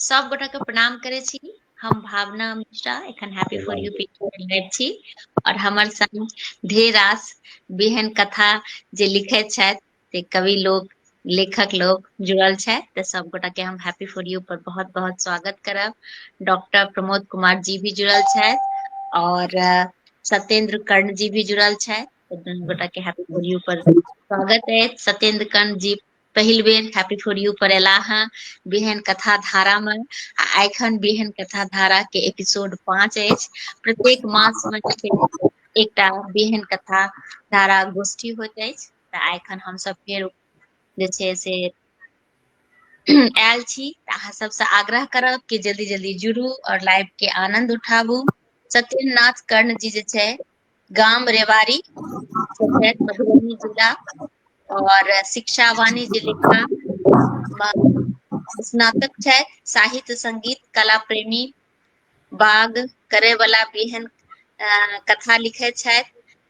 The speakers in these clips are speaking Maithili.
सब गोटा के प्रणाम करे छी हम भावना मिश्रा एखन हैप्पी फॉर यू पीटी छी और हमर संग ढेर रास बेहन कथा जे लिखे छथि से कवि लोग लेखक लोग जुड़ल छथि तऽ सब गोटा के हम हैप्पी फॉर यू पर बहुत बहुत स्वागत करब डॉक्टर प्रमोद कुमार जी भी जुड़ल छथि और अ, सत्येंद्र कर्ण जी भी जुड़ल छथि तऽ दुनू गोटा के हैप्पी फॉर यू पर स्वागत अछि सत्येंद्र कर्ण जी पहिल बेर हैप्पी फॉर यू पर एला हँ बिहन कथा धारा में आ एखन बिहन कथा धारा के एपिसोड पाँच अछि प्रत्येक मास में जे छै एकटा बिहन कथा धारा गोष्ठी होइत अछि तऽ एखन हमसब फेर जे छै से आयल छी तऽ अहाँ सबसँ आग्रह करब कि जल्दी जल्दी जुड़ू और लाइव के आनंद उठाबू सत्येन्द्रनाथ कर्ण जी जे छै गाम रेवाड़ी मधुबनी जिला आओर शिक्षा वाणिज्य लिखा स्नातक छै साहित्य संगीत कला प्रेमी बाग करे वाला बिहन अ कथा लिखे छथि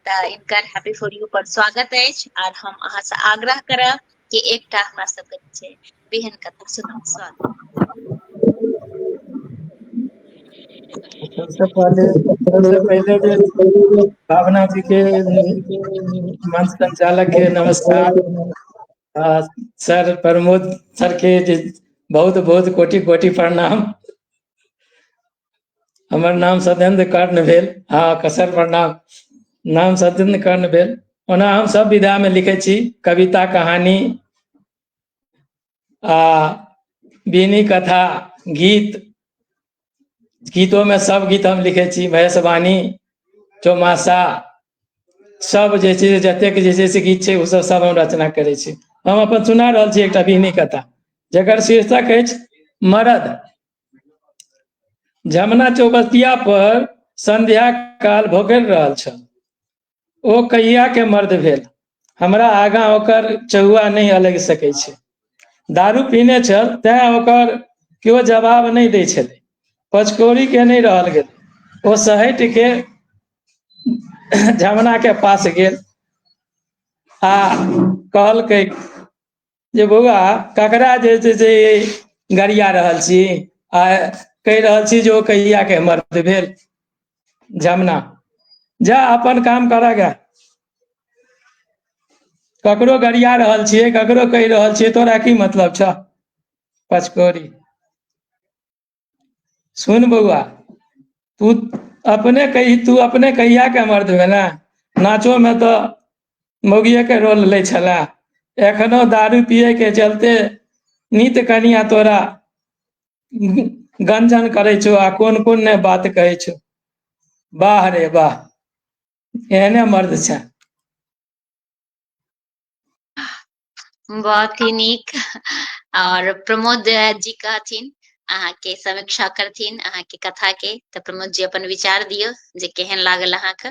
तऽ इनकर हैप्पी फॉर यू पर स्वागत अछि आर हम अहाँसँ आग्रह करब के एकटा हमरा सबके छै बेहन कथा सुनाउ सर सबसँ पहले सबसँ पहिले जे भावना जी के मंच संचालक के नमस्कार आ सर प्रमोद सर के जे बहुत बहुत कोटि कोटि प्रणाम हमर नाम सत्येन्द्र कर्ण भेल हँ कसर प्रणाम नाम सत्येन्द्र कर्ण भेल ओना हम सब विधामे लिखै छी कविता कहानी आ बीनी कथा गीत गीतोमे सब गीत हम लिखै छी महेशवाणी चौमासा सब जे छै जतेक जे छै से गीत छै ओ सब सब हम रचना करै छी हम अपन सुना रहल छी एकटा बीनी कथा जकर शीर्षक अछि मरद जमुना चौबस्तिया पर संध्या काल भोगल रहल छल ओ कहिया के मर्द भेल हमरा आगा ओकर चहुआ नहीं अलग सके छे दारू पीने छल तैं ओकर केओ जवाब नहीं दे छे पचकोरी के नहीं रहल गेल ओ सहट के जमुना के पास गेल आ कहल के जे बौआ ककरा जे छै से गरिया रहल छी आ कहि रहल छी जे ओ कहिया के मर्द भेल जमना जा अपन काम कर गा ककरो गरिया रहल छियै ककरो कहि रहल छियै तोरा की मतलब छ पचकोरी सुन बौआ तू अपने कही तू अपने कहिया के मर्द भेला नाचो में तो मौगिए के रोल ले छला एखनो दारू पिए के चलते नित कनिया तोरा गंजन करे छो आ कोन कोन ने बात कहे छो वाह रे वाह एहने मर्द छा बहुत ही नीक और प्रमोद जी कहथिन अहाँ के समीक्षा करथिन अहाँ के कथा के तो प्रमोद जी अपन विचार दियो जे केहन लागल अहाँ के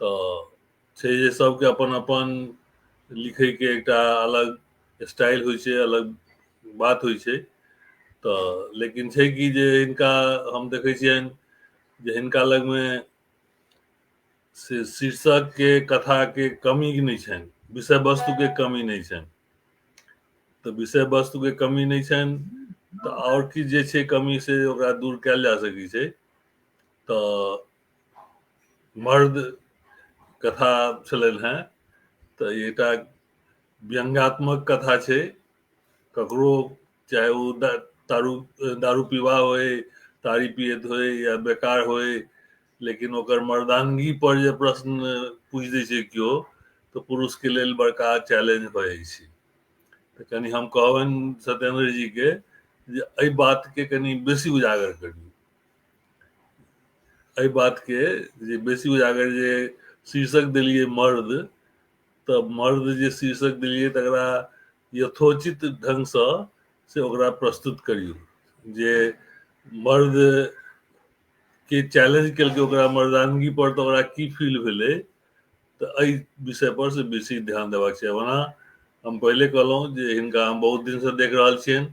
तऽ छै जे सबके अपन अपन लिखै के एकटा अलग स्टाइल होइ छै अलग बात होइ छै तऽ लेकिन छै कि जे हिनका हम देखै छियनि जे हिनका लगमे से शीर्षक के कथा के कमी नहि छनि विषय वस्तु के कमी नहि छनि तऽ विषय वस्तु के कमी नहि छनि तऽ आओर किछु जे छै कमी से ओकरा दूर कयल जा सकै छै तऽ मर्द कथा छलनि हेँ तऽ एकटा व्यङ्गात्मक कथा छै ककरो चाहे ओ दारू दारू पीबा होय तारी पियत होय या बेकार होय लेकिन ओकर मर्दानगी पर जे प्रश्न पूछ दै छै केओ तऽ पुरुषके लेल बड़का चैलेंज भऽ जाइ छै तऽ कनि हम कहबनि सत्येन्द्र जीके जे एहि बातके कनि बेसी उजागर करी एहि बात के जे बेसी उजागर जे शीर्षक दिलिए मर्द तऽ मर्द जे शीर्षक दिलिए तकरा यथोचित ढंग से से ओकरा प्रस्तुत करियौ जे मर्द के चैलेंज केलकै ओकरा मर्दानगी पर तऽ ओकरा की फील भेलै तऽ एहि विषय पर से बेसी ध्यान देबाक छै ओना हम पहिले कहलहुँ जे हिनका हम बहुत दिन से देख रहल छियनि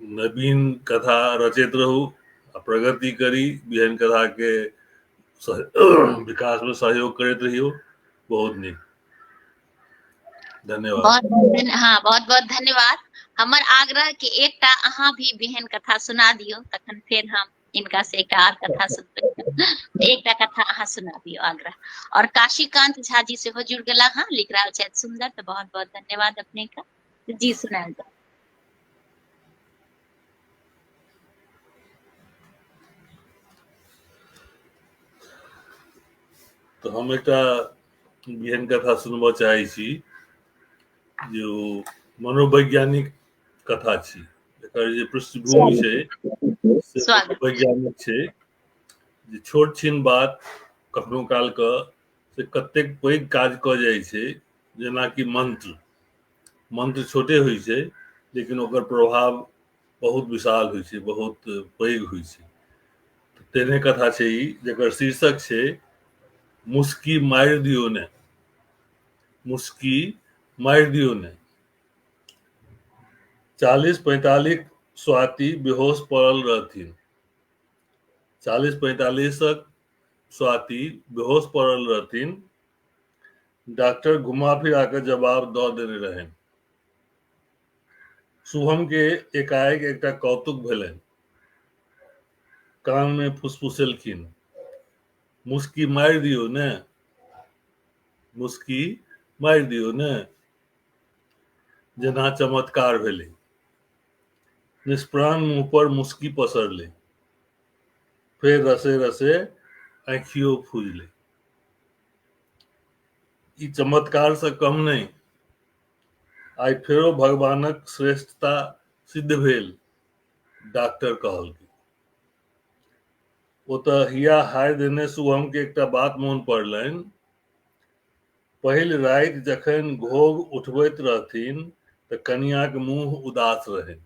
नवीन कथा रचैत रहू आ प्रगति करी बिहन कथा के विकास में सहयोग करैत रहियो बहुत नीक धन्यवाद बहुत बहुत हाँ बहुत बहुत धन्यवाद हमर आग्रह के एकटा अहाँ भी बिहन कथा सुना दियो तखन फिर हम इनका से एक आर कथा सुनते एक कथा अहाँ सुना दियो आग्रह और काशीकांत झा जी से हो जुड़ गला हाँ लिख रहा है सुंदर तो बहुत बहुत धन्यवाद अपने का जी सुनायल जाउ तऽ हम एकटा एहन कथा सुनबऽ चाहै छी जे ओ मनोवैज्ञानिक कथा छी एकर जे पृष्ठभूमि छै से स्वागत। मनोवैज्ञानिक छै जे छोट छीन बात कखनो काल कऽ से कतेक पैघ काज कऽ जाइ छै जेनाकि मन्त्र मन्त्र छोटे होइ छै लेकिन ओकर प्रभाव बहुत विशाल होइ छै बहुत पैघ होइ छै तेने कथा छै ई जकर शीर्षक छै मुस्की मारि दियो ने मुस्की मारि दियो ने चालीस पैंतालीस स्वाति बेहोश पड़ल रहथिन चालीस पैंतालीसक स्वाति बेहोश पड़ल रहथिन डॉक्टर घुमा फिरा के जवाब दऽ देने रहनि शुभम के एकाएक एकटा कौतुक भेलनि कान में फुसफुसेलखिन मुस्की मारि दियौ ने मुस्की मारि दियौ ने जेना चमत्कार भेलै निष्प्राण मुंह पर मुस्की पसरलै फेर रसे रसे आँखियो फूजले ई चमत्कार से कम नहीं आई फेरो भगवानक श्रेष्ठता सिद्ध भेल डॉक्टर कहल ओतऽ हिया हाय देने शुभम के एकटा बात मोन पड़लनि पहिल राति जखन घोघ उठबैत रहथिन तऽ कनियाक मुंह उदास रहनि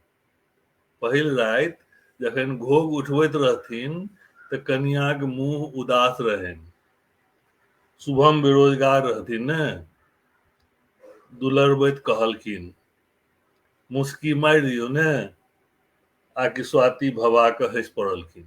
पहिल राति जखन घोग उठबैत रहथिन तऽ कनियाक मुँह उदास रहनि शुभम बेरोजगार रहथिन ने दुलरबैत कहलखिन मुस्की मारि दियौ ने आकि स्वाति भबा कऽ हँसि पड़लखिन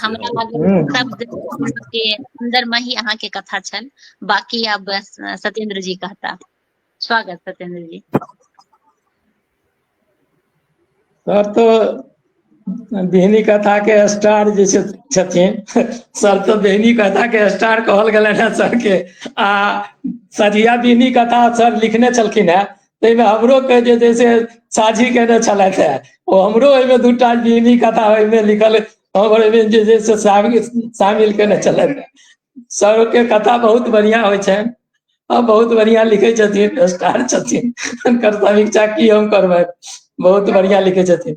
हमरा लागल शब्द के अंदर में ही अहाँ के कथा छल बाकी अब सत्येंद्र जी कहता स्वागत सत्येंद्र जी सर तो बेहनी कथा के स्टार जैसे छथिन सर तो बेहनी कथा के स्टार कहल गलन है सर के आ सरिया बेहनी कथा सर लिखने छलखिन है ताहिमे हमरो के जे छै से साझी केने छलथि हे ओ हमरो एहिमे दू टा जीवनी कथा ओहिमे लिखल हमर एहिमे जे छै से शामिल केने छलथि हे सरोके कथा बहुत बढ़िया होइ छनि आ बहुत बढ़िया लिखे छथिन स्टार छथिन हुनकर समीक्षा की हम करबै बहुत बढ़िया लिखे छथिन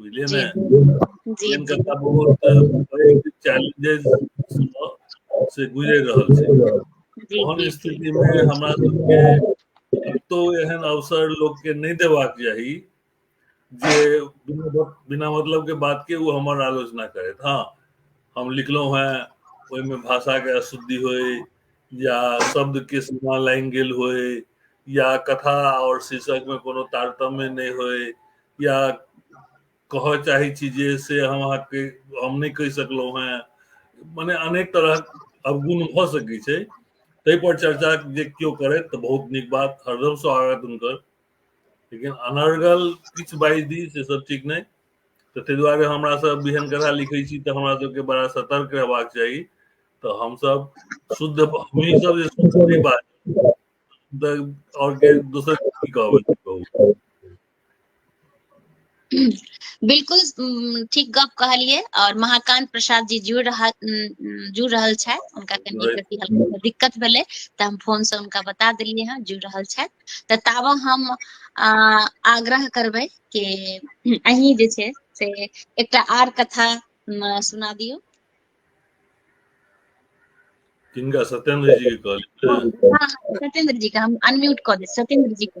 बुझलियै ने जिनका का बहुत चैलेंजेस से गुजर रहल छै ओहन स्थिति में हमरा सबके तो एहन अवसर लोग के नहीं देबाक चाही जे बिना बिना मतलब के बात के वो हमर आलोचना करे हाँ हम लिखलो हैं ओहिमे भाषा के अशुद्धि होय या शब्द के सीमा लाइन गेल होय या कथा और शीर्षक में कोनो तारतम्य नहीं होय या कह चाहे छी जे से हम अहाँ के हम नहीं कह सकलो हैं माने अनेक तरह अवगुण भ सके छै तै पर चर्चा जे क्यों करे तो बहुत निक बात हरदम स्वागत उनकर लेकिन अनर्गल किछ बाइज दी से सब ठीक नहीं तो ते द्वारे हमरा सब बिहन कथा लिखे छी तो हमरा सब के बड़ा सतर्क रहबाक चाहिए तो हम सब शुद्ध हमही सब जे शुद्ध बात और के दोसर की कहबै बिल्कुल उम, ठीक गप कहलिए और महाकांत प्रसाद जी जुड़ रहा उम, जुड़ रहल छै उनका कनी जुड़े- कथी हल्का सा दिक्कत भेले त हम फोन से उनका बता देलिए हैं जुड़ रहल छै त ताबा हम आ, आग्रह करबे कि अहीं जे छै से एकटा आर कथा उम, सुना दियो किनका सत्येंद्र जी के कहलियै हाँ, हाँ, सत्येंद्र जी के हम अनम्यूट क दे सत्येंद्र जी के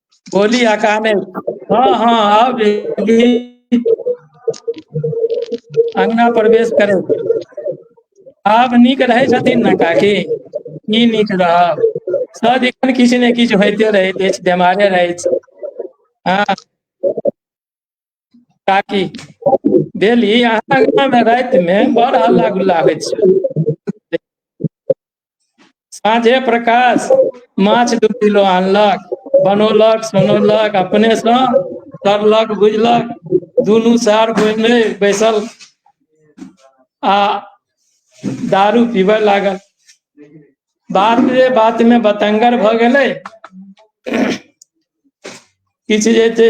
बोली आ काने हँ हँ आब अगना प्रवेश करै आब नीक रहै छथिन ने काकी की नीक रहब सदिखन किछु ने किछु होइते रहैत अछि बेमारे रहैत छी हँ काकी भेली अहाँ गाममे रातिमे बड़ हल्ला गुल्ला होइ छै साँझे प्रकाश माछ दू किलो आनलक बनौलक सुनौलक अपनेसँ तरलक बुझलक दुनू सार बोलने बैसल आ दारू पीबऽ लागल बात रे बातमे बतंगर भऽ गेलै किछु जे छै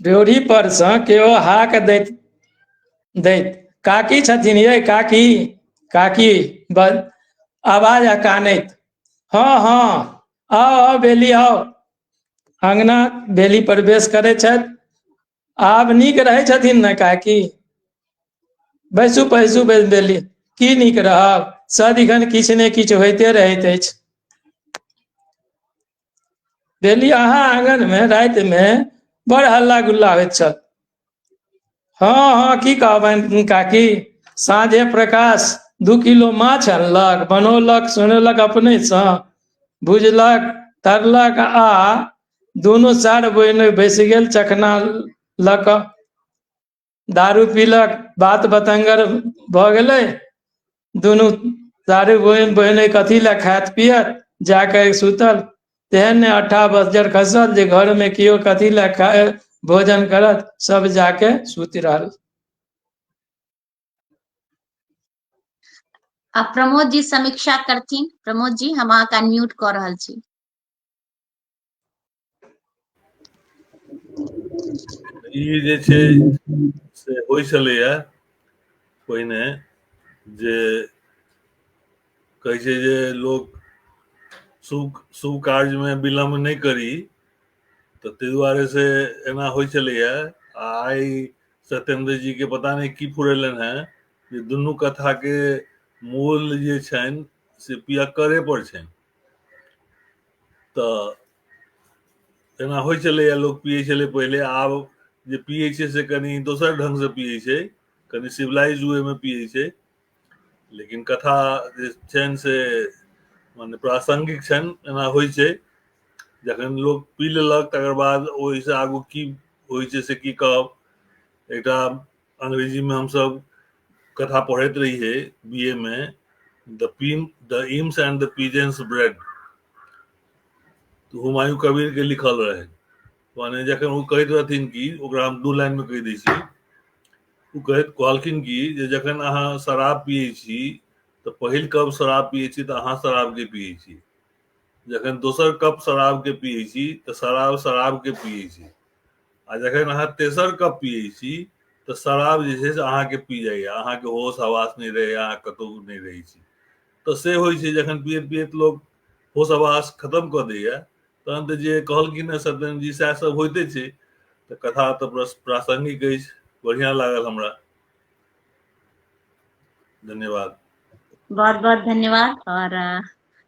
ड्योढ़ी पर से केओ हाक दैत दैत काकी छथिन ये काकी काकी बस आवाज अकानैत हाँ हाँ आओ आओ बेली आओ अंगना बेली प्रवेश करे छथि आब नीक रहै छथिन ने काकी बैसू पैसू बैस देली की नीक रहब सदिखन किछु ने किछु होइते रहैत अछि भेली अहाँ आंगनमे रातिमे बड़ हल्ला गुल्ला होइत छल हँ हँ की कहबनि काकी साँझे प्रकाश दू किलो माछ अनलक बनौलक सुनेलक अपनेसँ भुजलक तरलक आ दुनू चारि बहिन बैस गेल चखना लऽ कऽ दारू पीलक बात बतंगर भऽ गेलै दुनू दारू बहिन बहिन कथी लए खायत पियत जाके सुतल तेहन ने अट्ठा बजर खसल जे घरमे केओ कथी लए खाय भोजन करत सब जाके सुति रहल आ प्रमोद जी समीक्षा करथिन प्रमोद जी हम अहाँके अनम्यूट कऽ रहल छी ई जे छै से होइ छलैए पहिने जे कहै छै जे लोक शुभ शुभ कार्यमे विलम्ब नहि करी तऽ ताहि दुआरे से एना होइ छलैए आ आइ सत्येंद्र जी के पता नहि की फुरेलनि हेँ जे दुनू कथा के मूल जे छनि से पियक्करे पर छनि तऽ जेना होइ छलैए लोक पियै छलै पहिले आब जे पियै छै से कनि दोसर ढङ्गसँ पियै छै कनि सिविलाइज वेमे पियै छै लेकिन कथा जे छनि से मने प्रासङ्गिक छनि एना होइ छै जखन लोक पी लेलक तकर बाद ओहिसँ आगू की होइ छै से की कहब एकटा अंग्रेजी में हम सब कथा पढ़त रही है बीए में the poem the hymns and the peasants bread तो हुमायूं कबीर के लिखल रहे माने जखन वो कहत रहथिन कि ओकरा हम दू लाइन में कह दै छी ओ कहत कहलखिन कि जे जखन अहाँ शराब पियै छी तऽ पहिल कप शराब पियै छी तऽ अहाँ शराब के पियै छी जखन दोसर कप शराब के पियै छी तऽ शराब शराब के पियै छी आ जखन अहाँ तेसर कप पियै छी तऽ शराब जे छै से अहाँके पी जाइए अहाँके होश हवास नहि रहैए अहाँ कतहु नहि रहै छी तऽ से होइ छै जखन पियैत पियैत लोक होश हवास खतम कऽ दैए तहन तऽ जे कहलखिन हेँ सत्येन्द्र जी सएह सब होइते छै तऽ कथा तऽ प्रस- प्रासंगिक अछि बढ़िआँ लागल हमरा धन्यवाद बहुत बहुत धन्यवाद और अ,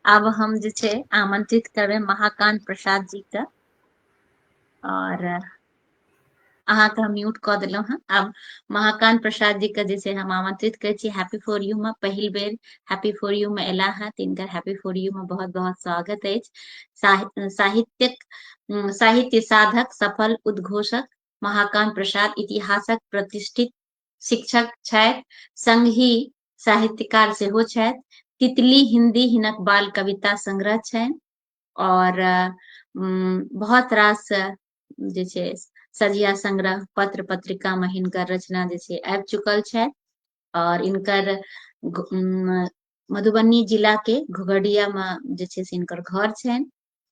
आब हम जे छै आमंत्रित करबे महाकांत प्रसाद जी के आओर अहाँके हम म्यूट कऽ देलहुँ हँ आब महाकान्त प्रसाद जी के जे छै हम आमंत्रित करै छी हैप्पी फॉर यू मे पहिल बेर हैप्पी फॉर यू मे एला हँ तिनकर हैप्पी फॉर यू मे बहुत बहुत स्वागत अछि साहि- साहित्यक उम, साहित्य साधक सफल उद्घोषक महाकान्त प्रसाद इतिहासक प्रतिष्ठित शिक्षक छथि संगहि साहित्यकार सेहो छथि तितली हिन्दी हिनक बाल कविता संग्रह छनि और बहुत रास जे छै सजिया संग्रह पत्र पत्रिका में हिनकर रचना जे छै आबि चुकल छै और इनकर मधुबनी जिला के घुघडिया में जे छै से इनकर घर छै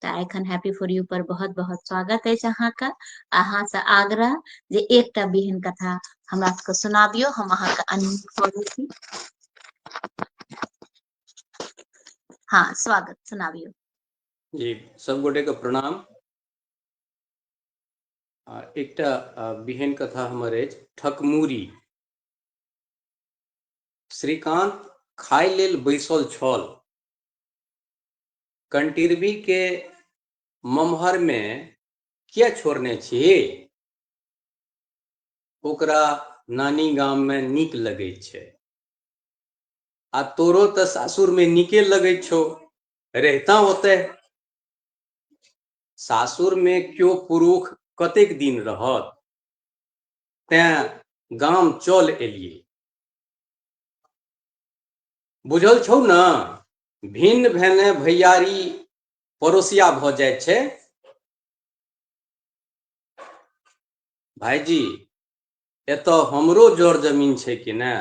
तऽ एखन हैप्पी फॉर यू पर बहुत बहुत स्वागत अछि अहाँके अहाँसँ आग्रह जे एकटा बिहन कथा हमरा सबके सुनाबियो हम अहाँके अनम्यूट कऽ दै छी हाँ स्वागत सुनावियो जी सब गोटे के प्रणाम आ, एकटा आ, बिहन कथा हमर अछि ठकमूरी श्रीकांत खाय लेल बैसल छल कंटिरबी के ममहर मे किया छोड़ने छी ओकरा नानी गाम मे नीक लगैत छै आ तोरो तऽ सासुर में नीके लगै छौ रहता ओतय सासुर में क्यो पुरुख कतेक दिन रहत तें गाम चल एलिए बुझल छौ न भिन्न भेने भैयारी पड़ोसिया भ जाय छै भाईजी एतऽ हमरो जर जमीन छै कि नहि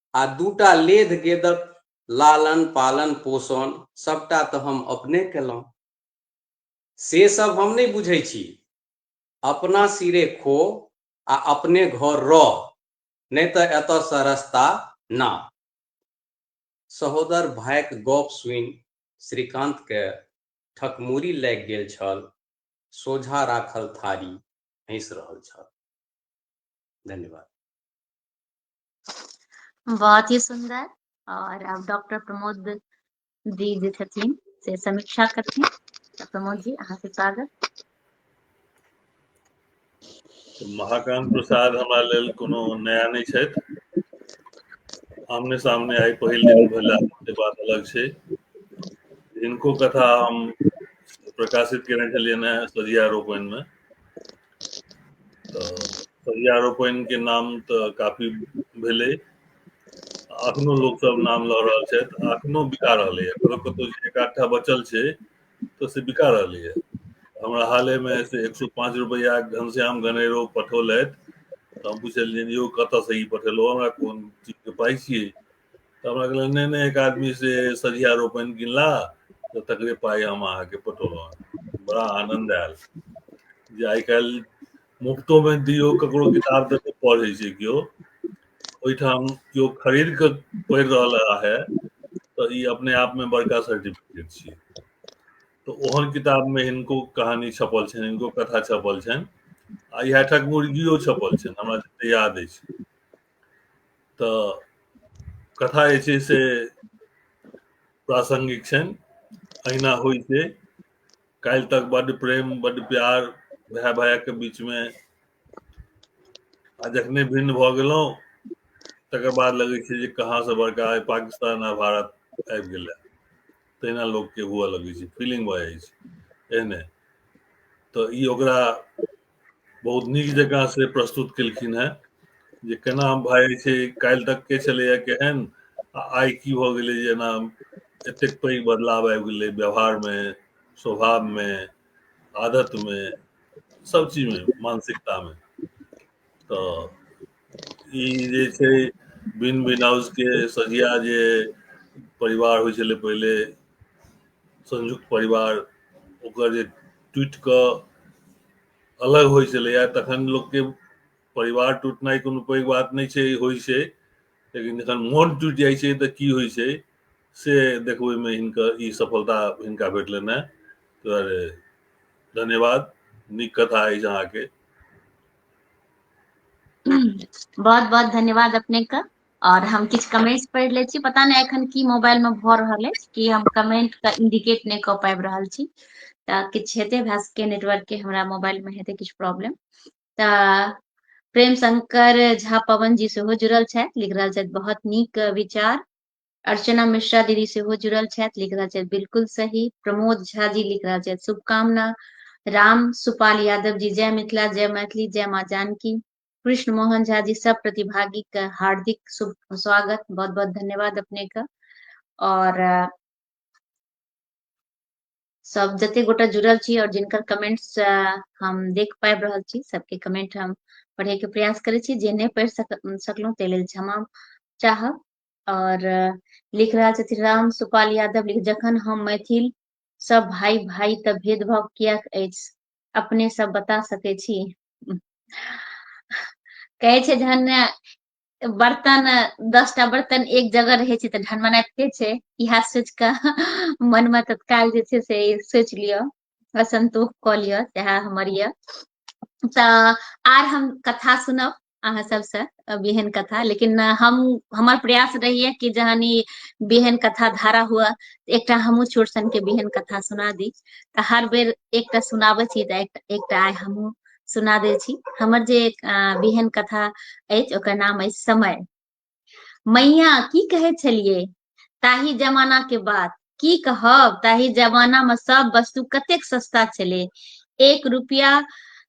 आ दूटा लेध गेदक लालन पालन पोषण सबटा तऽ हम अपने केलहुँ से सब हम नहि बुझै छी अपना सिरे खो आ अपने घर रह नहि तऽ एतऽसँ रस्ता ना सहोदर भायक गप सुनि श्रीकान्तके ठकमुरी लागि गेल छल सोझा राखल थारी हँसि रहल छल धन्यवाद बहुत ही सुंदर और अब डॉक्टर प्रमोद जी जे छथिन से समीक्षा करथिन तो प्रमोद जी अहाँ के स्वागत तो महाकांत प्रसाद हमारे लेल कोनो नया नहीं छै आमने सामने आई पहिल दिन भेला के बात अलग छै इनको कथा हम प्रकाशित केने छलियन है सदिया रोपन में पर्यारोपण के नाम तऽ काफी भेलै अखनो लोक सब नाम लऽ रहल छथि अखनो बिका रहलै है कतौ कतौ जे एक आध टा बचल छै तऽ से बिका रहलै है हमरा हाले मे से एक सौ पाँच रुपैया के घनश्याम गणेरो पठौलथि तऽ हम पुछलियनि यौ कतऽ से ई पठेलौं हमरा कोन चीज के पाइ छियै तऽ हमरा कहलक नहि नहि एक आदमी से सझिया रोपन गिनला तऽ तकरे पाइ हम अहाँके पठौलहुँ बड़ा आनन्द आयल जे आइ काल्हि मुफ्तोमे दियौ ककरो किताब दऽ कऽ पढ़ै छै केओ ओहिठाम केओ खरीद कऽ पढ़ि रहल है तऽ ई अपने आपमे बड़का सर्टिफिकेट छियै तऽ ओहन किताबमे हिनको कहानी छपल छनि हिनको कथा छपल छनि आ इएह ठक मुर्गियो छपल छनि हमरा जते याद अछि तऽ कथा जे छै से प्रासंगिक छनि अहिना होइ छै काल्हि तक बड प्रेम बड प्यार भाय भाया के बीच में आ जखने भिन्न भऽ गेलहुँ तकर बाद लगै छै जे कहाँ से बड़का आइ पाकिस्तान आ भारत आबि गेलै तहिना लोकके हुअ लगै छै फीलिंग भऽ जाइ छै एहने तऽ ई ओकरा बहुत नीक जकाँ से प्रस्तुत केलखिन है जे केना भाई छै काल्हि तक के छलैया केहन आ आइ की भऽ गेलै जे एना एतेक पैघ बदलाव आबि गेलै व्यवहारमे स्वभावमे आदतमे सब चीजमे मानसिकतामे तऽ ई जे छै बिन बिन हाउसके सजिया जे परिवार होइ छलै पहिले संयुक्त परिवार ओकर जे टूटि कऽ अलग होइ छलैए तखन लोकके परिवार टूटनाइ कोनो पैघ बात नहि छै होइ छै लेकिन जखन मोन टूटि जाइ छै तऽ की होइ छै से देखबैमे हिनकर ई सफलता हिनका भेटलनि हेँ ताहि दुआरे धन्यवाद नीक कथा अछि अहाँके बहुत बहुत धन्यवाद अपने का आओर हम किछु कमेंट्स पढ़ि लै छी पता नहि एखन की मोबाइल मे भऽ रहल अछि कि हम कमेंट के इंडिकेट नहि कऽ पाबि रहल छी तऽ किछु हेतै हमरा सबके नेटवर्क के हमरा मोबाइल मे हेतै किछु प्रॉब्लम तऽ प्रेम शंकर झा पवन जी सेहो जुड़ल छथि लिख रहल छथि बहुत नीक विचार अर्चना मिश्रा दीदी सेहो जुड़ल छथि लिख रहल छथि बिलकुल सही प्रमोद झा जी लिख रहल छथि शुभकामना राम सुपाल यादव जी जय मिथिला जय मैथिली जय माँ जानकी कृष्ण मोहन झा जी सब प्रतिभागी के हार्दिक शुभ स्वागत बहुत बहुत धन्यवाद अपने के और सब जते गोटा जुड़ल छी और जिनकर कमेंट्स हम देख पाबि रहल छी सबके कमेंट हम पढ़े के प्रयास करे छी जे नहीं पढ़ सक, सकलहुँ ताहि लेल क्षमा चाहब और लिख रहा छथि राम सुपाल यादव लिख जखन हम मैथिल सब भाई भाई तब भेदभाव किया अपने सब बता सके छी कहै छै जहन ने बर्तन दस टा बर्तन एक जगह रहै छै तऽ ढनमनाइते छै इएह सोचि कऽ मनमे तत्काल जे छै से सोचि लिअ असन्तोष कऽ लिअ सएह हमर यऽ तऽ आर हम कथा सुनब अहाँ सबसँ बिहन कथा लेकिन हम हमर प्रयास रहैए कि जहन ई बिहन कथा धारा हुआ एकटा हमहूँ चोरसनके बिहन कथा सुना दी तऽ हर बेर एकटा सुनाबै छी तऽ एकटा आइ हमहूँ सुना दै छी हमर जे बिहन कथा अछि ओकर नाम अछि समय मैया की कहै छलियै ताहि जमाना के बात की कहब ताहि जमाना में सब वस्तु कतेक सस्ता छलै एक रुपया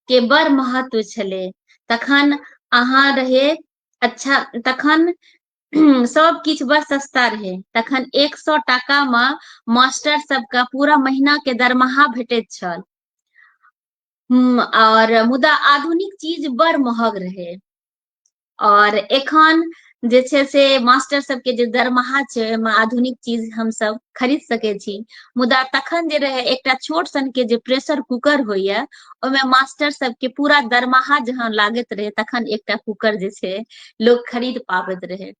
के बड़ महत्व छलै तखन अहाँ रहे अच्छा तखन सब किछु बड़ सस्ता रहै तखन एक सौ टाका मे मास्टर सबके पूरा महीना के दरमाहा भेटैत छल हम्म, और मुदा आधुनिक चीज बड़ महग रहै और एखन जे छै से मास्टर सबके जे दरमाहा छै ओहिमे आधुनिक चीज हमसब खरीद सकै छी मुदा तखन जे रहै एकटा छोट सन के जे प्रेशर कुकर होइया ओहिमे मास्टर सबके पूरा दरमाहा जहाँ लागैत रहै तखन एकटा कुकर जे छै लोक खरीद पाबैत रहै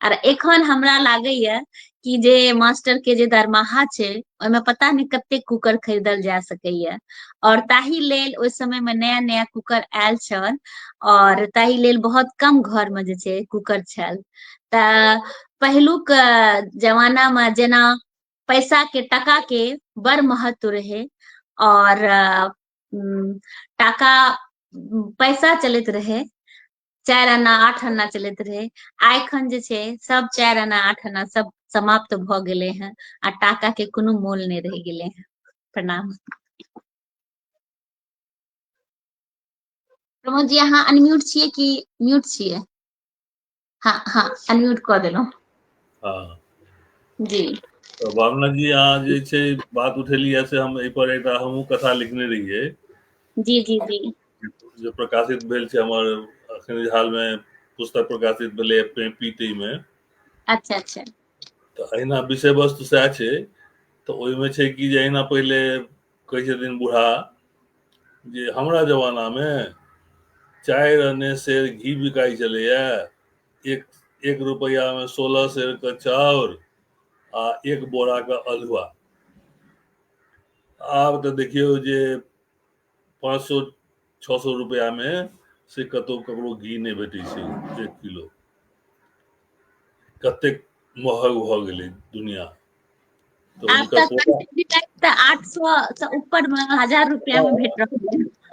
आर एखन हमरा लागैए कि जे मास्टर के जे दरमाहा छै ओहिमे पता नहि कते कुकर खरीदल जा सकैए और ताहि लेल ओहि समय में नया नया कुकर आयल छल और ताहि लेल बहुत कम घर में जे छै कुकर छल तऽ पहिलुक जमाना में जेना पैसा के टका के बड़ महत्व रहे और टाका पैसा चलैत रहे चारि आना आठ आना चलैत रहै आ एखन जे छै सब चारि आना आठ आना सब समाप्त भऽ गेलै हेँ आ टाका के कोनो मोल नहि रहि गेलै हेँ प्रणाम प्रमोद जी अहाँ अनम्यूट छियै कि म्यूट छियै हाँ हाँ अनम्यूट कऽ देलहुँ हाँ जी तऽ भावना जी अहाँ जे छै बात उठेलियै से हम एहिपर एकटा हमहूँ कथा लिखने रहियै जी जी जी जे प्रकाशित भेल छै हमर अखन हाल मे पुस्तक प्रकाशित भेलै पीटी मे अच्छा अच्छा तऽ अहिना विषय वस्तु सएह छै तऽ ओहिमे छै कि जे अहिना पहिले कहै छथिन बूढ़ा जे हमरा जमाना मे चारि अने शेर घी बिकाइ छलैया एक एक रुपैया मे सोलह शेर के चाउर आ एक बोरा के अलुआ आब तऽ देखियौ जे पाँच सौ छः सौ रुपया में से कतौ ककरो घी नहीं भेटै छै एक किलो कतेक महग भऽ गेलै दुनिया तो आब हुनकर तक पोता- कंटिन्यू टाइप तऽ आठ सौ से ऊपर में हजार रुपया में भेट रहल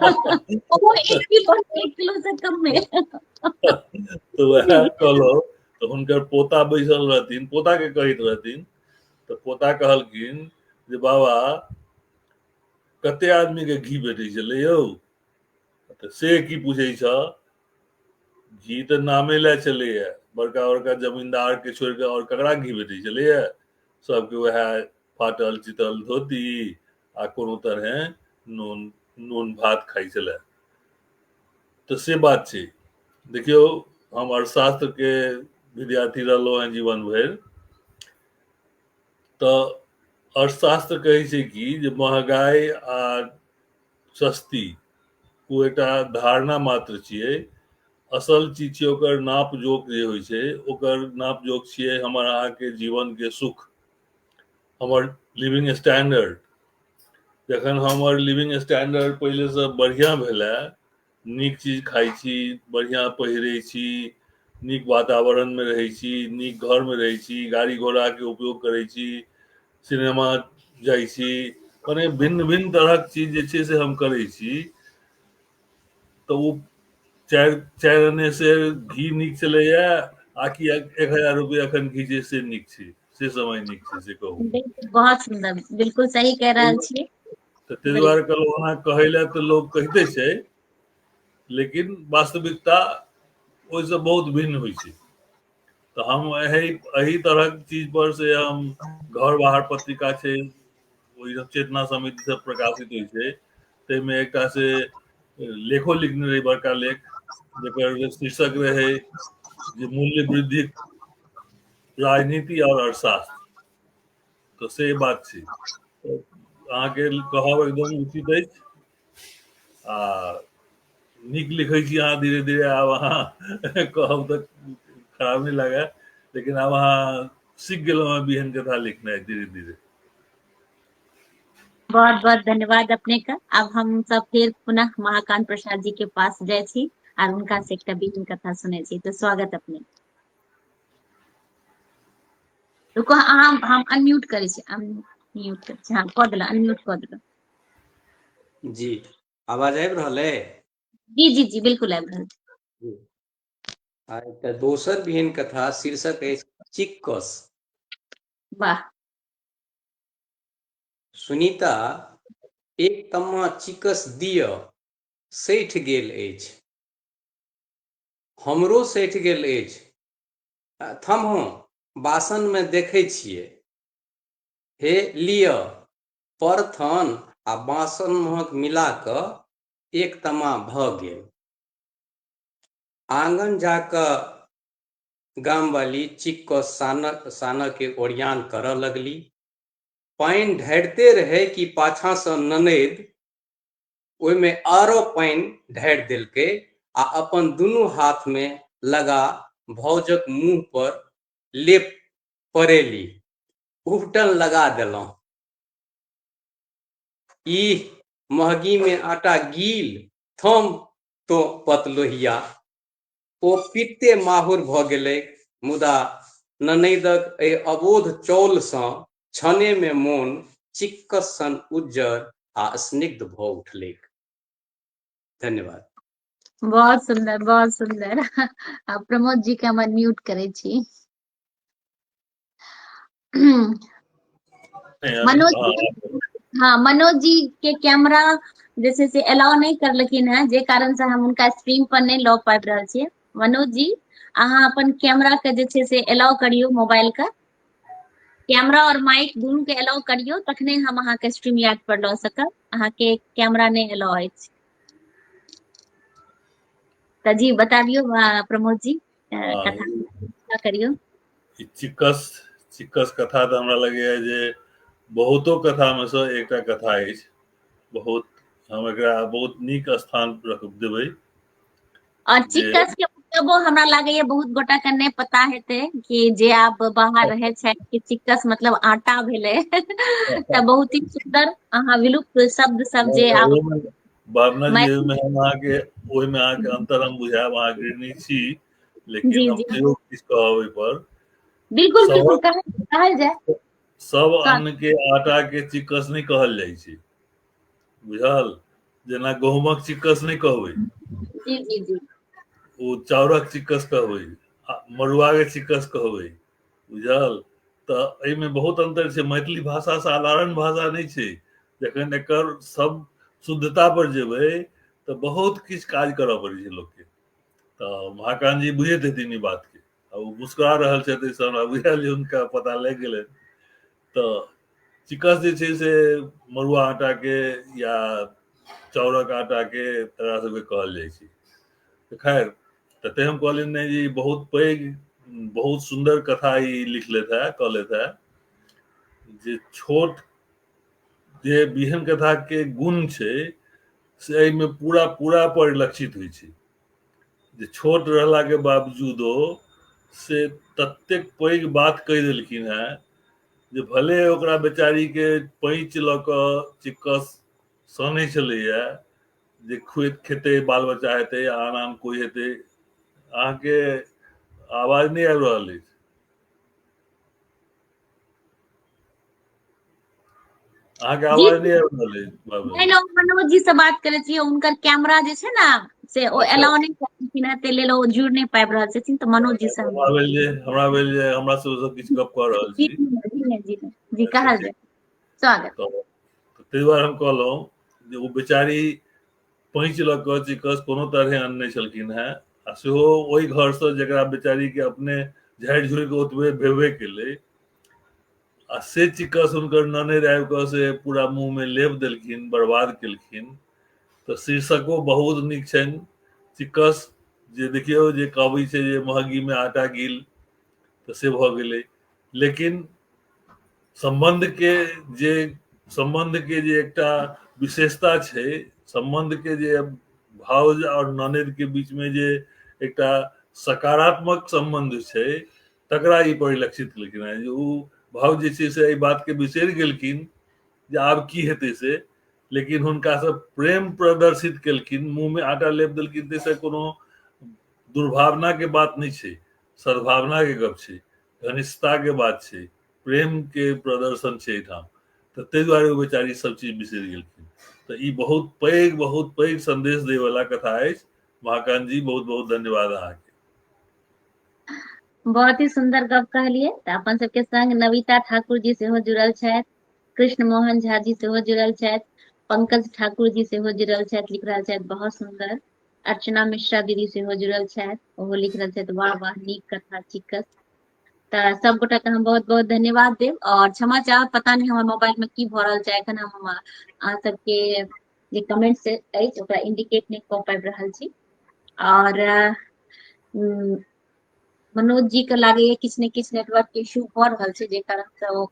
है ओहो एक किलो एक किलो से कम में तो वह कहलो तो हुनकर पोता बैसल रहथिन पोता के कहैत रहथिन तो पोता कहलखिन जे बाबा कते आदमी के घी भेटै छलै यौ तऽ से की पूछै छ घी तऽ नामे लए चलैए बड़का बड़का जमींदार के छोड़ के और ककरा घी भेटै छलैए सबके वएह फाटल चितल धोती आ कोनो तरहे नून नून भात खाइ छलै तऽ से बात छै देखियौ हम अर्थशास्त्र के विद्यार्थी रहलहुँ हैं जीवन भरि तऽ अर्थशास्त्र कहै छै कि जे महगाई आ सस्ती ओ एकटा धारणा मात्र छियै असल चीज छियै ओकर नाप जोक जे होइ छै ओकर नाप जोक छियै हमर अहाँके जीवनके सुख हमर लिविंग स्टैंडर्ड जखन हमर लिविंग स्टैंडर्ड पहिलेसँ बढ़िआँ भेलै नीक चीज खाइ छी बढ़िआँ पहिरै छी नीक वातावरणमे रहै छी नीक घरमे रहै छी गाड़ी घोड़ाके उपयोग करै छी सिनेमा जाइ छी मने भिन्न भिन्न तरहक चीज जे छै से हम करै छी तऽ ओ चारि चारि अने से घी नीक चलैए आ कि एक हजार रुपैआ एखन घी जे से नीक छै से समय नीक छै से कहू बहुत सुंदर बिल्कुल सही कह रहल छी तऽ ताहि दुआरे कहलहुँ ओना कहै लए तऽ लोक कहिते छै लेकिन वास्तविकता ओहिसँ बहुत भिन्न होइ छै तऽ हम एहि एहि तरहक चीज पर से हम घर बाहर पत्रिका छै ओहि सब चेतना समिति से प्रकाशित होइ छै ताहिमे एकटा से लेखो लिखने रही बड़का लेख जकर शीर्षक रहे जे मूल्य वृद्धि राजनीति और अर्थशास्त्र तऽ से बात छै अहाँके कहब एकदम उचित अछि आ नीक लिखै छी अहाँ धीरे धीरे आब अहाँ कहब तऽ खराब नहि लागए लेकिन आब अहाँ सीख गेलहुँ हेँ बिहन कथा लिखनाइ धीरे धीरे बहुत बहुत धन्यवाद अपने का अब हम सब फिर पुनः महाकांत प्रसाद जी के पास जाए छी और उनका से एकटा बीन कथा सुने छी तो स्वागत अपने रुको अहाँ हम अनम्यूट करै छी अनम्यूट करै छी हाँ कऽ देलहुँ अनम्यूट कऽ देलहुँ जी आवाज आबि रहल अइ जी जी जी बिल्कुल आबि रहल जी। आ एकटा दोसर बिहन कथा शीर्षक अछि चिक्कस वाह सुनीता एक तम्मा चिकस दिय सठि गेल अछि हमरो सठि गेल अछि थम्हो बासन में देखे छिए हे लिय पर थन आ बासन महक मिला क एक तमा भ गेल आंगन जाक गाम वाली चिक क सान सान के ओरियान कर लगली पानि ढारिते रहे कि पाछा से ननद ओहिमे आरो पानि ढारि देलकै आ अपन दुनू हाथमे लगा भौजक मुँह पर लेप पड़ेली उबटन लगा देलहुँ ई महगीमे आटा गील थम तो पतलोहिया ओ पित्ते माहुर भऽ गेलैक मुदा ननैदक एहि अबोध चौलसँ क्षणेमे मोन चिक्कस सन उज्जर आ स्निग्ध भऽ उठलैक धन्यवाद बहुत सुंदर बहुत सुंदर प्रमोद जी के हम अनम्यूट करे छी मनोज हाँ मनोज जी के कैमरा जैसे से अलाउ नहीं कर लेकिन है जे कारण से हम उनका स्ट्रीम पर नहीं लॉ पाबि रहल छियै मनोज जी अहाँ अपन कैमरा के जे छै से अलाउ करियो मोबाइल का कैमरा और माइक दोनों के अलाउ करियो तखने हम अहाँ के स्ट्रीम याद पर लॉ सकब अहाँ के कैमरा नहीं अलाउ अछि त जी बताबियो प्रमोद जी कथा करियौ चिकस चिकस कथा तऽ हमरा लगैए जे बहुतो कथामे सँ एकटा कथा अछि बहुत हम एकरा बहुत नीक स्थान रख देबै और चिकस के मतलब हमरा लागैए बहुत गोटा के नहि पता हेतै कि जे आब बाहर रहै छै कि चिकस मतलब आटा भेलै तऽ बहुत ही सुंदर अहाँ विलुप्त शब्द सब जे आब भावना जी में हम अहाँ के ओहि में अहाँ के अंतर हम बुझाएब अहाँ अग्रणी छी लेकिन जी, हम जी। तैयो किछु कहब ओहि पर बिल्कुल सब- बिल्कुल कहल कहल जाए सब का- अन्न के आटा के चिक्कस नहीं कहल जाइ छै बुझल जेना गहूमक चिक्कस नहीं कहबै जी जी जी ओ चाउरक चिक्कस कहबै आ मड़ुआ के चिक्कस कहबै बुझल तऽ एहिमे बहुत अन्तर छै मैथिली भाषा साधारण भाषा नहि छै जखन एकर सब शुद्धता पर जेबै तऽ बहुत किछु काज करऽ पड़ै छै लोकके तऽ महाकान्त जी बुझैत हेथिन ई बातके आ ओ मुस्कुरा रहल छथि एहिसँ हमरा बुझायल जे हुनका पता लागि गेलनि तऽ चिकस जे छै से मड़ुआ आटाके या चाउरक आटाके तकरा सबके कहल जाइ छै तऽ खैर तते हम कहलिन ने जे बहुत पैघ बहुत सुंदर कथा ई लिखले था कहले था जे छोट जे बिहन कथा के गुण छै से एहिमे पूरा पूरा परिलक्षित होइ छै जे छोट रहला के बावजूदो से ततेक पैघ बात कहि देलखिन है जे भले ओकरा बेचारी के पैंच लऽ कऽ चिक्कस सनै छलैया जे खुद खेतै बाल बच्चा हेतै आन आन कोइ हेतै अहाँके आवाज नहि आबि रहल अछि अहाँके आवाज नहि आबि रहल अछि बाबू नहि नहि मनोज जी से बात करे छियै उनकर कैमरा जे छै ने से ओ अलाउ नहि करथिन है ते लेल ओ जुड़ नहि पाबि रहल छथिन तऽ मनोज जी से हम हमरा भेल जे हमरा भेल जे हमरा से सब किछु गप कऽ रहल जी छी जी जी जी जी कहल जाय स्वागत तऽ ताहि दुआरे हम कहलहुँ जे ओ बेचारी पैंच लऽ कऽ चिकस कोनो तरहे अनने छलखिन हेँ आ सेहो ओहि घरसँ जकरा बेचारीके अपने झाड़ि झुड़ि कऽ ओतबे भेबे केलै आ से चिकस हुनकर ननैर आबि कऽ से पूरा मुँहमे लेप देलखिन बर्बाद केलखिन तऽ शीर्षको बहुत नीक छनि चिकस जे देखियौ जे कहबै छै जे महगीमे आटा गिल तऽ से भऽ गेलै लेकिन सम्बन्ध के जे सम्बन्ध के जे एकटा विशेषता छै सम्बन्ध के जे भाउज और ननद के बीच में जे एकटा सकारात्मक सम्बन्ध छै तकरा ई परिलक्षित केलखिन हेँ जे ओ भाउज जे छै से एहि बात के बिसरि गेलखिन जे आब की हेतै से लेकिन हुनका से प्रेम प्रदर्शित केलखिन मुंह में आटा लेप देलखिन ताहिसँ कोनो दुर्भावना के बात नहि छै सद्भावना के गप छै घनिष्ठता के बात छै प्रेम के प्रदर्शन छै एहिठाम तऽ ताहि दुआरे ओ बेचारी सब चीज बिसरि गेलखिन तऽ ई बहुत पैघ बहुत पैघ संदेश दै वाला कथा अछि महाकांत जी बहुत बहुत धन्यवाद अहाँके बहुत ही सुंदर गप कहलिए तऽ अपन सबके संग नविता ठाकुर जी सेहो जुड़ल छथि कृष्ण मोहन झा जी सेहो जुड़ल छथि पंकज ठाकुर जी सेहो जुड़ल छथि लिख रहल छथि बहुत सुंदर अर्चना मिश्रा दीदी सेहो जुड़ल छथि ओहो लिख रहल छथि वाह वाह नीक कथा चिकस तऽ सब गोटा के हम बहुत बहुत धन्यवाद देब और क्षमा चाहब पता नहीं हमर मोबाइल में की भऽ रहल छै एखन हम अहाँ सबके जे कमेंट से अछि ओकरा इंडिकेट नहीं कऽ पाबि रहल छी और मनोज जी के लागैया किछु ने किछु नेटवर्क के इशू भऽ रहल छै जे कारण से ओ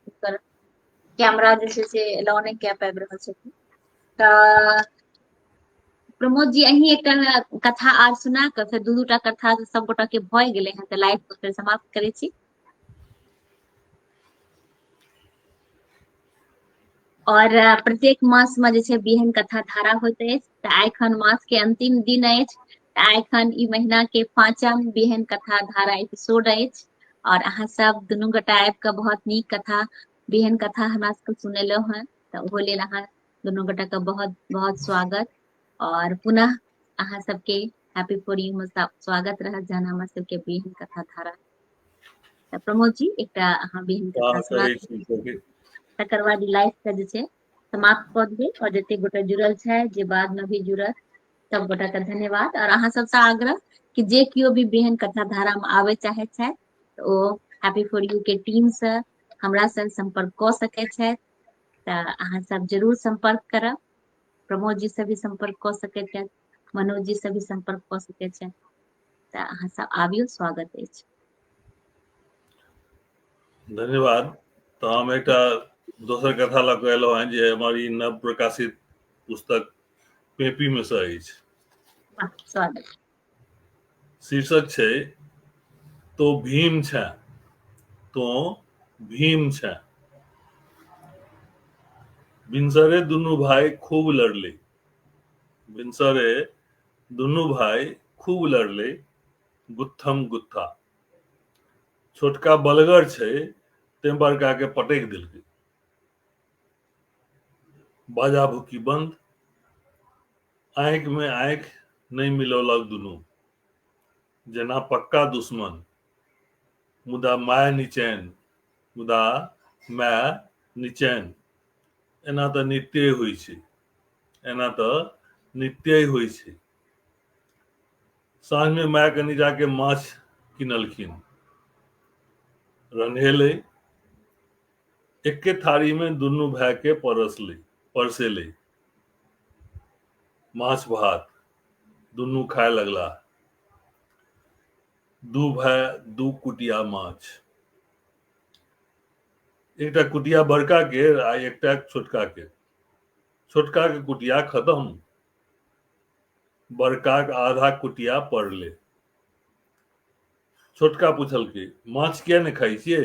कैमरा जे छै से एलाउ नहि कए पाबि रहल छथिन तऽ प्रमोद जी अही एकटा कथा आर सुना कऽ फेर दू दूटा कथा सब गोटा के भए गेले हैं तऽ लाइव को फेर समाप्त करे छी और प्रत्येक मास में जे बिहन कथा धारा होते अछि तऽ आइ खन मास के अंतिम दिन अछि तऽ आइ खन ई महीना के पांचम बिहन कथा धारा एपिसोड अछि और अहाँ सब दुनू गोटा आबि कऽ बहुत नीक कथा बिहन कथा हमरा सबके सुनेलहुँ हैं तऽ ओहो लेल अहाँ दुनू गोटा के बहुत बहुत स्वागत और पुनः अहाँ सबके हैप्पी फॉर यू में स्वागत रहत जहन हमर सबके बिहन कथा धारा तऽ प्रमोद जी एकटा अहाँ बिहन कथा स्वागत सुना करै छी सबके। तकर बाद लाइफ के जे छै समाप्त कऽ देबै और जते गोटा जुड़ल छै जे बाद में भी जुड़त सब गोटा के धन्यवाद और अहाँ सबसँ आग्रह कि जे केओ भी बेहन कथा धारा में आबय चाहैत छथि तऽ ओ हैप्पी फॉर यू के टीम से हमरा संग संपर्क कऽ सकैत छथि तऽ अहाँ सब जरूर सम्पर्क करब प्रमोद जी से भी सम्पर्क कऽ सकैत छथि मनोज जी से भी सम्पर्क कऽ सकैत छथि तऽ अहाँ सब आबियौ स्वागत अछि धन्यवाद तऽ हम एकटा दोसर कथा लऽ कऽ एलहुँ हेँ जे हमर ई नव प्रकाशित पुस्तक पेपीमे सँ अछि स्वागत शीर्षक छै तो भीम छ तो भीम छ भिनसरे दुनू भाई खूब लड़ले भिनसरे दुनू भाई खूब लड़ले गुत्थम गुत्था छोटका बलगर छै ते बड़का के पटक दिलके बाजा भुकी बंद आंख में आंख नहीं मिलौलक दुनू जेना पक्का दुश्मन मुदा माय निचैन मुदा माय निचैन एना तऽ नित्य होइ छै एना तऽ नित्य होइ छै साँझ में माय कनी जाके माछ किनलखिन रन्हेलै एके थारी में दुनू भाई के परसली परसेली माछ भात दुनू खाए लगला दू भाई दू कुटिया माछ एकटा कुटिया बड़का के आ एकटा छोटका के छोटका के कुटिया खत्म बड़का के आधा कुटिया पड़ले छोटका पूछल की माछ किया ने खाई छियै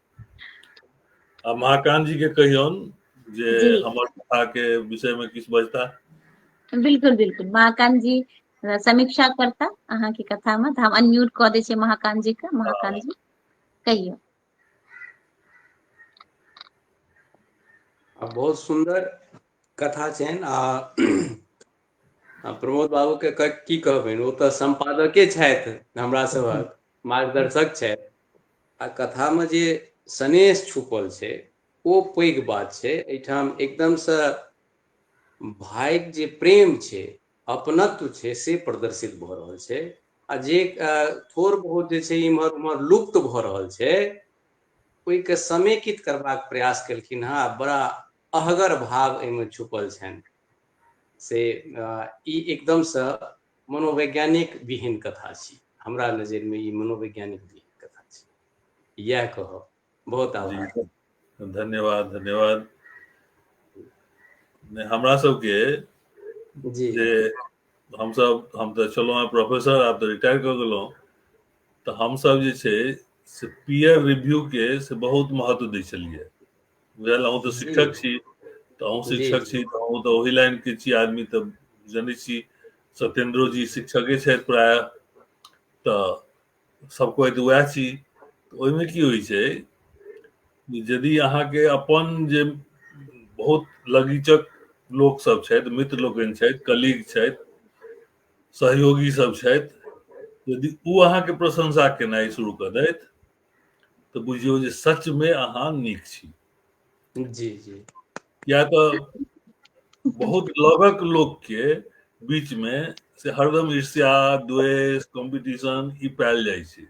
आ महाकांत जी के कहियौन जे जी। हमर कथा के विषय में किछ बजता बिल्कुल बिल्कुल महाकांत जी अ, समीक्षा करता अहाँ के कथा में तऽ हम अनम्यूट कऽ दै छियै महाकांत जी के महाकांत जी कहियौ आ बहुत सुन्दर कथा छनि आ आ प्रमोद बाबूके क- की कहबनि ओ तऽ सम्पादके छथि हमरा सभक मार्गदर्शक छै आ कथा में जे सनेश छुपल छै ओ पैघ बात छै एहिठाम एकदम से भाई जे प्रेम छै अपनत्व छै से प्रदर्शित भ रहल छै आ जे थोड़ बहुत जे छै इम्हर उम्हर लुप्त भ रहल छै ओहिके समेकित करबाक प्रयास केलखिन हँ बड़ा अहगर भाव एहिमे छुपल छनि से ई एकदमसँ मनोवैज्ञानिक विहीन कथा छी हमरा नजर में ये मनोवैज्ञानिक विहीन कथा छी यह कह बहुत आभार धन्यवाद धन्यवाद हमरा सबके जी जे हम सब हम तो चलो हैं प्रोफेसर आप तो रिटायर कर गलो तो हम सब जे से पीयर रिव्यू के से बहुत महत्व दी चलिए बुझल अहूँ तऽ शिक्षक छी तऽ अहूँ शिक्षक छी तऽ अहूँ तऽ ओहि लाइन के छी आदमी तऽ जनै छी सत्येंद्रो जी शिक्षके छथि प्राय तऽ सब कोइ तऽ उएह छी ओहिमे की होइ छै यदि अहाँके अपन जे बहुत लगीचक लोक सब छथि मित्र लोकनि छथि कलीग छथि सहयोगी सब छथि यदि ओ अहाँके प्रशंसा केनाइ शुरू कऽ दैत तऽ बुझियौ जे सचमे अहाँ नीक छी जी जी या तऽ बहुत लगक लोकके बीचमे से हरदम ईर्ष्या द्वेष कॉम्पिटिशन ई पायल जाइ छै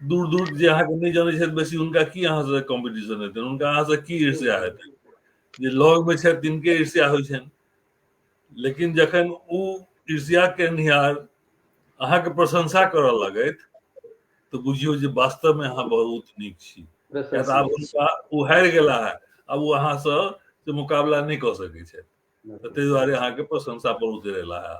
दूर दूर जे अहाँके नहि जानै छथि बेसी हुनका की अहाँसँ कॉम्पिटिशन हेतनि हुनका अहाँसँ की ईर्ष्या हेतनि जे लगमे छथि तिनके ईर्ष्या होइ छनि लेकिन जखन ओ ईर्ष्या केनिहार अहाँके प्रशंसा करऽ लगैत तऽ बुझियौ जे वास्तवमे अहाँ बहुत नीक छी किया तऽ आब हुनका ओ हारि गेला है आब ओ अहाँसँ से मुकाबला नहि कऽ सकैत छथि तऽ ताहि दुआरे अहाँके प्रशंसा पर उतरेला है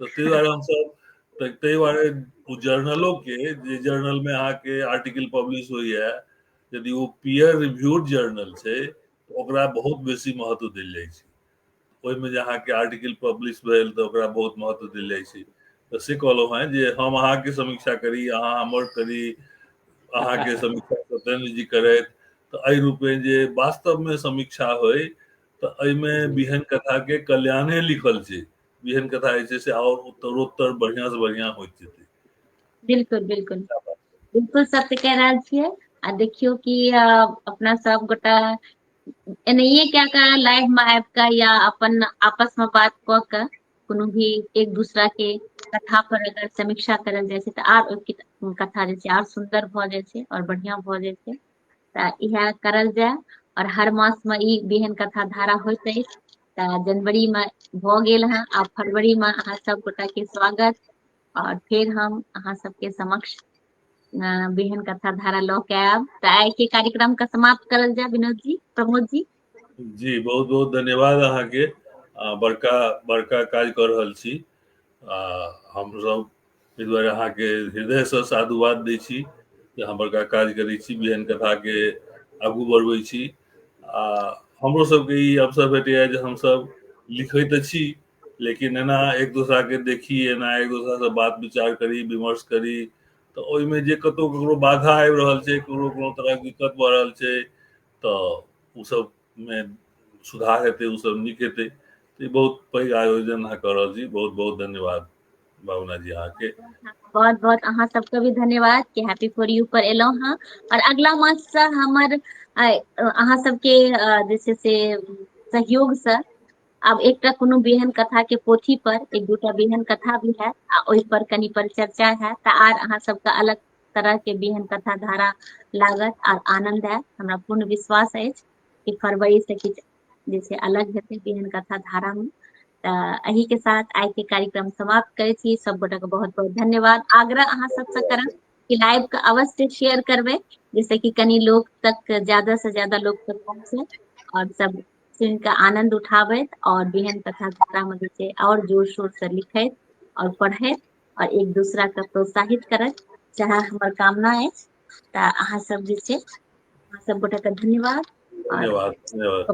तऽ ताहि दुआरे हमसब तऽ ताहि दुआरे ओ जर्नलो के जे जर्नल में अहाँ के आर्टिकल पब्लिश होइए यदि ओ पीयर रिव्यूड जर्नल छै तऽ ओकरा बहुत बेसी महत्व देल जाइ छै ओहिमे जे अहाँके आर्टिकल पब्लिश भेल तऽ ओकरा बहुत महत्व देल जाइ छै तऽ से कहलहुँ हेँ जे हम अहाँके समीक्षा करी अहाँ हमर करी अहाँके समीक्षा सत्येन्द्र जी करथि तऽ एहि रूपे जे वास्तवमे समीक्षा होय तऽ एहिमे बिहन कथाके कल्याणे लिखल छै बिहन कथा जे छै से आओर उत्तरोत्तर बढ़िआँसँ बढ़िआँ होइत जेतै बिल्कुल बिल्कुल बिल्कुल सत्य कह रहल छियै आ देखियौ कि अ, अपना सब गोटा एनाहिए कए कऽ लाइफमे आबि कऽ या अपन आपसमे बात कऽ कऽ कोनो भी एक दूसरा के कथा पर अगर समीक्षा करल जाइ छै तऽ आर ओहि कथा जे छै आर सुन्दर भऽ जाइ छै आओर बढ़िआँ भऽ जाइ छै तऽ इएह करल जाय आओर हर मासमे ई बेहन कथा धारा होइत अछि तऽ जनवरीमे भऽ गेल हँ आब फरवरीमे अहाँ सभ गोटाके स्वागत आओर फेर हम अहाँ सबके समक्ष बेहन कथा धारा लऽ के आयब तऽ आइ के कार्यक्रम के समाप्त करल जाय विनोद जी प्रमोद जी जी बहुत बहुत धन्यवाद अहाँ के बड़का बड़का काज कर रहल छी आ हम सब एहि दुआरे अहाँ के हृदय से साधुवाद दै छी जे अहाँ बड़का काज करै छी बेहन कथा के आगू बढ़बै छी आ हमरो सबके ई अवसर भेटैया जे हमसब लिखै तऽ छी लेकिन एना एक दोसरा के देखी एना एक दोसरा से बात विचार करी विमर्श करी तऽ ओहिमे जे कतौ ककरो बाधा आबि रहल छै ककरो कोनो तरहक दिक्कत भऽ रहल छै तऽ ओ सबमे सुधार हेतै ओ सब नीक हेतै तऽ ई बहुत पैघ आयोजन अहाँ कऽ रहल छी बहुत बहुत धन्यवाद भावना जी अहाँके बहुत बहुत अहाँ सबके भी धन्यवाद कि हैप्पी फॉर यू पर एलहुँ हँ और अगला मास से हमर अ, अहाँ सबके अ, जे छै से सहयोग से आब एकटा कोनो बिहन कथा के पोथी पर एक दूटा बिहन कथा भी है आ ओहि पर कनी परिचर्चा है तऽ आर अहाँ सबके अलग तरह के बिहन कथा धारा लागत आर आनंद है हमरा पूर्ण विश्वास अछि कि फरवरी से किछु जे छै अलग हेतै बिहन कथा धारा में तऽ एहि के साथ आइ के कार्यक्रम समाप्त करै छी सब गोटा के बहुत बहुत धन्यवाद आग्रह अहाँ सबसे करब कि लाइव के अवश्य शेयर करबै जैसे कि कनी लोग तक ज्यादा से ज्यादा लोग तक पहुंचे और सब सुनि कऽ आनन्द उठाबैत आओर बिहन कथा मे जे छै आओर जोर शोर से लिखैत आओर पढ़ैत आओर एक दूसरा के प्रोत्साहित करैत चाहे हमर कामना अछि तऽ अहाँ सब जे छै अहाँ सब गोटा के धन्यवाद धन्यवाद धन्यवाद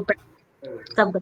सब